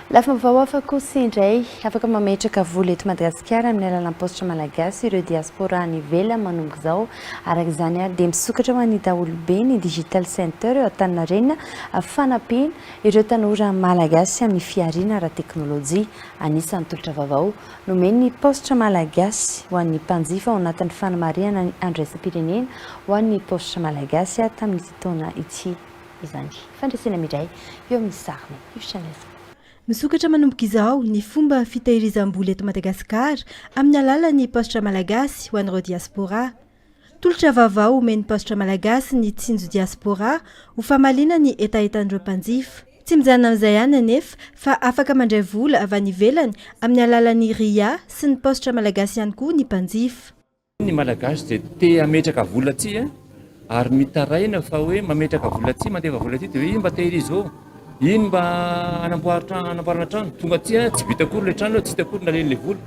Lafim-baovao hafa kosa indray, afaka mametraka vola eto Madagasikara amin'ny alalan'ny paositra malagasy ireo diaspora any ivelany manomboka izao. Araka izany ary dia misokatra ho an'ny daholobe ny Digital Center eo Antaninarenina fanampiana ireo tanora malagasy amin'ny fihariana ara-teknolojia. Anisan'ny tolotra vaovao Nomeny ny paositra Malagasy ho an'ny mpanjifa ao anatin'ny fanamarihana ny Andro iraisam-pirenena ho an'ny paositra Malagasy tamin'ity taona ity izany. Fandresena midray eo amin'ny sariny io Chanesa. Misokatra manomboka izao ny fomba fitahirizam-bola eto Madagasikara amin'ny alalan'ny paositra Malagasy ho an'ireo diaspora. Tolotra vaovao omen'ny Paositra Malagasy ny Tsinjo Diaspora ho famaliana ny hetahetan'ireo mpanjifa. Tsy mijanona amin'izay ihany anefa fa afaka mandray vola avy any ivelany amin'ny alalan'ny ria sy ny Paositra Malagasy ihany koa ny mpanjifa. Ny Malagasy dia te hametraka vola aty ary mitaraina fa hoe mametraka vola aty, mandefa vola aty dia hoe iza mba te-hirizô? Iny mba hanamboarana trano, tonga aty an, tsy vita akory ilay trano, tsy hita akory ny nalehany ilay vola.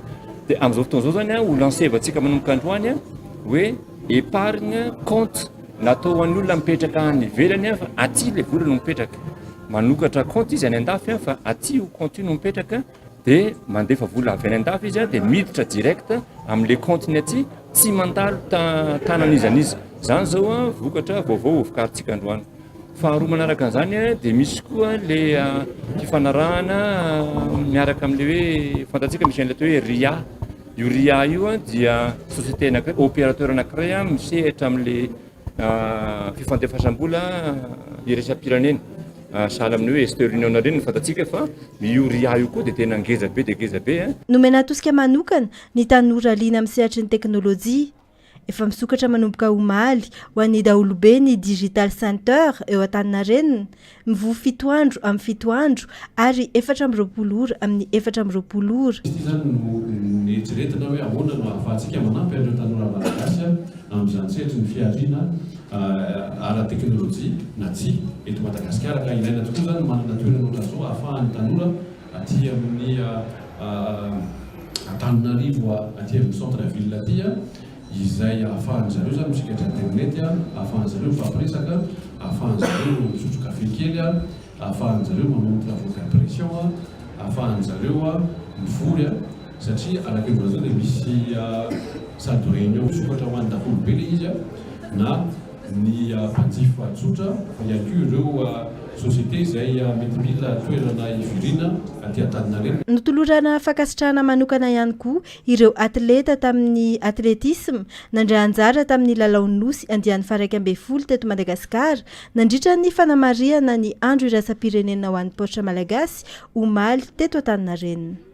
Dia amin'izao fotoana izao izany an, ho lancer-vantsika manomboka androany an, hoe épargne compte natao ho an'olona mipetraka any ivelany an, fa aty ilay vola no mipetraka. Manokatra compte izy any an-dafy an, fa aty io compte io no mipetraka. dia mandefa vola avy any an-dafy izy dia miditra direct amin'ilay compte-ny aty, tsy mandalo tanan'iza n'iza. Izany izao an, vokatra vaovao hovokarintsika androany. Faharoa manaraka an'izany dia misy koa ilay fifanarahana miaraka amin'ilay hoe fantatsika misy an'ilay atao hoe RIA. Io RIA io dia société anankiray, opérateur anankiray misehatra amin'ilay Fifandefasam-bola iraisam-pirenena, sahala amin'ny hoe Western Union ireny, no fantatsika fa io ria io koa dia tena ngeza be dia ngeza be. Nomena tosika manokana ny tanora liana amin'ny sehatry ny teknolojia. Efa misokatra manomboka omaly ho an'ny daholobe ny Digital Center eo Antaninarenina, Mivoha fito andro amin'ny fito andro, ary efatra amby roapolo ora amin'ny efatra amby roapolo ora. Ity izany no nieritreretina hoe ahoana no ahafahantsika manampy an'ireo tanora Malagasy amin'izany sehatry ny fihariana ara-teknolojia na tsy eto Madagasikara ka ilaina tokoa izany ny manana toerana ohatran'izao ahafahan'ny tanora aty amin'ny Antananarivo aty amin'ny centre ville aty izay ahafahan'ny zareo izany misikatra internet, ahafahan'ny zareo mifampiresaka, ahafahan'ny zareo misotro kafe kely, ahafahan'ny zareo manao ny travaux d'impression, ahafahan'ny zareo mivory satria araka ny voalaza dia misy salle de réunion misokatra ho an'ny daholobe ilay izy na ny mpanjifa tsotra fa ihany koa ireo société izay mety mila toerana hivoriana aty Antaninarenina. Notolorana fankasitrahana manokana ihany koa Ireo atleta tamin'ny atletisma nandray anjara tamin'ny lalaon'ny Nosy andiany faharaika ambin'ny folo teto Madagasikara nandritra ny fanamarihana ny Andro iraisam-pirenena ho an'ny Paositra Malagasy omaly teto Antaninarenina.